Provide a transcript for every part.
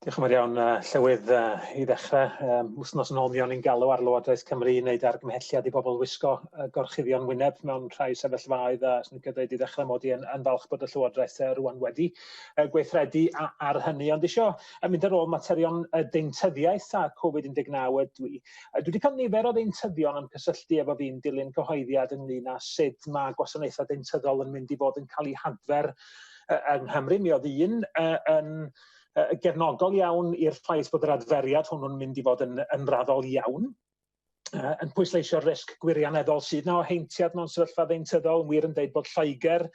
Diolch yn fawr iawn, uh, Llywydd, uh, i ddechrau. Um, wthnos yn ôl mi o'n i'n galw ar Lywodraeth Cymru i wneud argymhelliad i bobl wisgo uh, gorchuddion wyneb mewn rhai sefyllfaoedd a sy'n gyda'i di ddechrau mod i yn, yn falch bod y Llywodraeth uh, rwan wedi uh, gweithredu a, ar hynny. Ond isio uh, mynd ar ôl materion uh, deintyddiaeth a Covid-19 ydw i. Uh, dwi wedi cael nifer o ddeintyddion yn cysylltu efo fi'n dilyn cyhoeddiad ynglyn â sut mae gwasanaethau deintyddol yn mynd i fod yn cael eu hadfer yng Nghymru. Mi oedd un uh, yn... Uh, uh, gefnogol iawn i'r ffaith bod yr adferiad hwnnw'n mynd i fod yn, yn raddol iawn, uh, yn pwysleisio'r risg gwirioneddol sydd na o heintiad mewn sefyllfa ddeintyddol, yn wir yn dweud bod Lloegr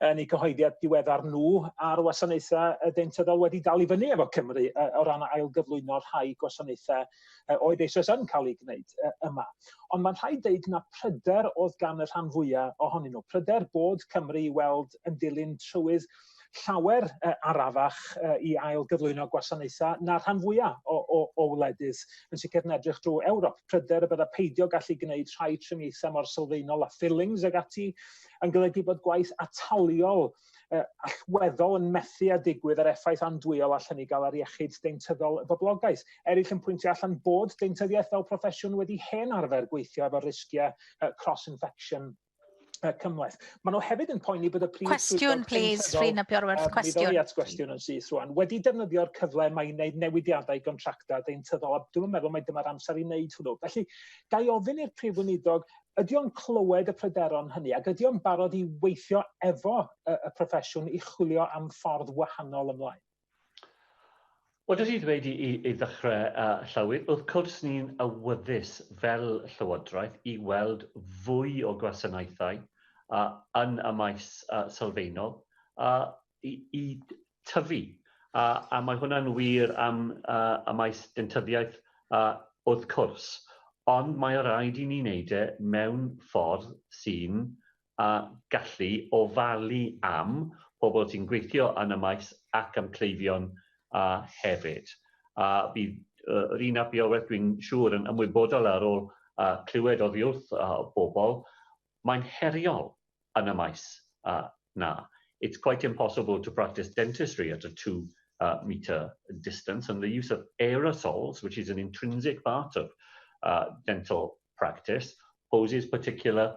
yn ei cyhoeddiad diweddar nhw a'r wasanaethau y deintyddol wedi dal i fyny efo Cymru uh, o ran ail gyflwyno rhai gwasanaethau uh, oedd eisoes yn cael ei gwneud uh, yma. Ond mae'n rhaid deud na pryder oedd gan y rhan fwyaf ohonyn nhw. Pryder bod Cymru i weld yn dilyn trywydd llawer uh, arafach uh, i ail gyflwyno gwasanaethau na rhan fwyaf o, o, o wledydd yn sicr yn edrych drwy Ewrop. Pryder y bydda peidio gallu gwneud rhai triniaethau mor sylfaenol a fillings ag ati yn golygu bod gwaith ataliol uh, allweddol yn methu a digwydd ar effaith andwyol allan i gael ar iechyd deintyddol y boblogaeth. Eraill yn pwyntio allan bod deintyddiaeth fel proffesiwn wedi hen arfer gweithio efo risgiau uh, cross-infection uh, cymhleth. Maen nhw hefyd yn poeni bod y prif Cwestiwn, please, Rhina Bjorwerth, um, cwestiwn. at gwestiwn yn syth rwan. Wedi defnyddio'r cyfle mae i wneud newidiadau gontractau deintyddol, a dwi'n meddwl mae dyma'r amser i wneud hwnnw. Felly, gai ofyn i'r prif weinidog, ydy o'n clywed y pryderon hynny, ac ydy o'n barod i weithio efo y, y proffesiwn i chwilio am ffordd wahanol ymlaen? Wel, dw i 'di dweud i, i, i ddechrau, uh, Llywydd, wrth cwrs ni'n awyddus fel Llywodraeth i weld fwy o gwasanaethau uh, yn y maes uh, sylfaenol uh, i, i tyfu. Uh, a mae hwnna'n wir am uh, y maes dentyddiaeth uh, wrth cwrs ond mae rhaid i ni wneud e mewn ffordd sy'n a gallu ofalu am pobl sy'n gweithio yn y maes ac am cleifion hefyd. A bydd Rina ap Iorwerth, dwi'n siŵr, yn ymwybodol ar ôl clywed oddi wrth bobl, mae'n heriol yn y maes na. It's quite impossible to practice dentistry at a two metre distance and the use of aerosols, which is an intrinsic part of dental practice, poses particular